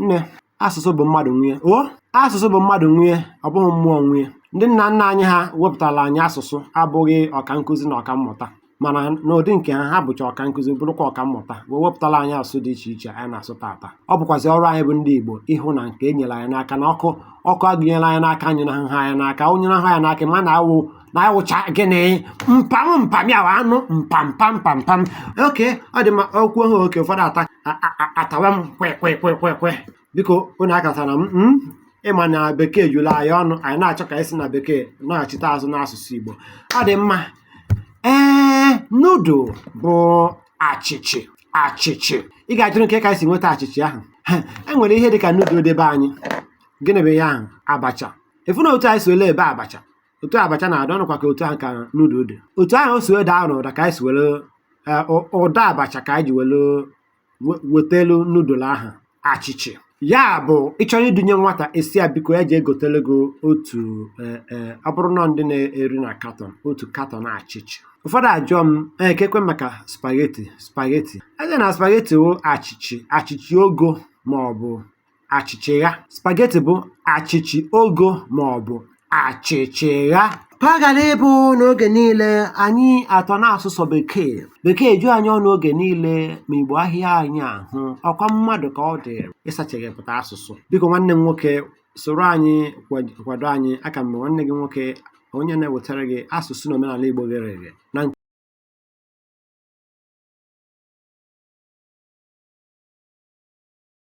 Nne, asụsụ bụ mmadụ nwe ya. O, asụsụ bụ mmadụ nwe ya, ọ bụghị mmụọ nwe ya. Ndị nna nna anyị ha wepụtara anyị asụsụ abụghị ọka nkụzi na ọka mmụta mana n'ụdị nke ha ha bụcha ọka nkụzi bụrụkwa ọka mmụta wee wepụtara anyị asụsụ dị iche iche anyị na-asụ taata ọ bụkwazi ọrụ anyị bụ ndị Igbo ịhụ na nke e nyere anyị n'aka na ọkụ ọkụ a gụnyere anyị n'aka anyụnaha anyị n'aka ọ nyụnaha anyị n'aka ma na-awụ na awụcha gịnị mpam mpam ya anụ mpampampampam oke ọ dị mma okwu ahụ oke ụfọdụ ata atawa m kwekwekwekwe biko unu akatara m hmm? ị ma na bekee juru anyị ọnụ anyị na-achọ ka anyị si na bekee naghachite azụ n'asụsụ Igbo ọ dị mma ee nudul bụ achịchị achịchị ị ga-ajụrị kee ka anyị si nweta achịchị ahụ e nwere ihe dị ka nudul dị be anyị gịnị bụ ihe ahụ abacha ị fụ na otu anyị si were ebe abacha otu abacha na-adị ọ bụkwa ka otu ahụ ka nudul dị otu ahụ o si wee daa n'ụda ka anyị si were eh, ụ- ụda abacha ka anyị ji were we- wetelu nudul ahụ achịchị ya bụ ị chọrọ idunye nwata ị sị ya biko ya jee gotele gị otu eh, eh, ọ bụrụ na ndị na-eri na katọn otu katọn achịchị ụfọdụ ajụọ m "Eh, keekwa maka spageti spageti a sị na spageti wụ achịchị achịchị ogo ma ọ bụ achịchịgha spageti bụ achịchị ogo ma ọ bụ achịchịgha ka ọ ghara ịbụ n'oge niile anyị atọ na-asụ sọ bekee bekee ju anyị ọnụ oge niile ma igbo ahịa anyị ahụ ọ kwa mmadụ ka ọ dịrị ịsacheghepụta asụsụ biko nwanne m nwoke soro anyị kwad- kwado anyị aka m bụ nwanne gị nwoke onye na-ewetara gị asụsụ na omenala igbo ghere eghe na nke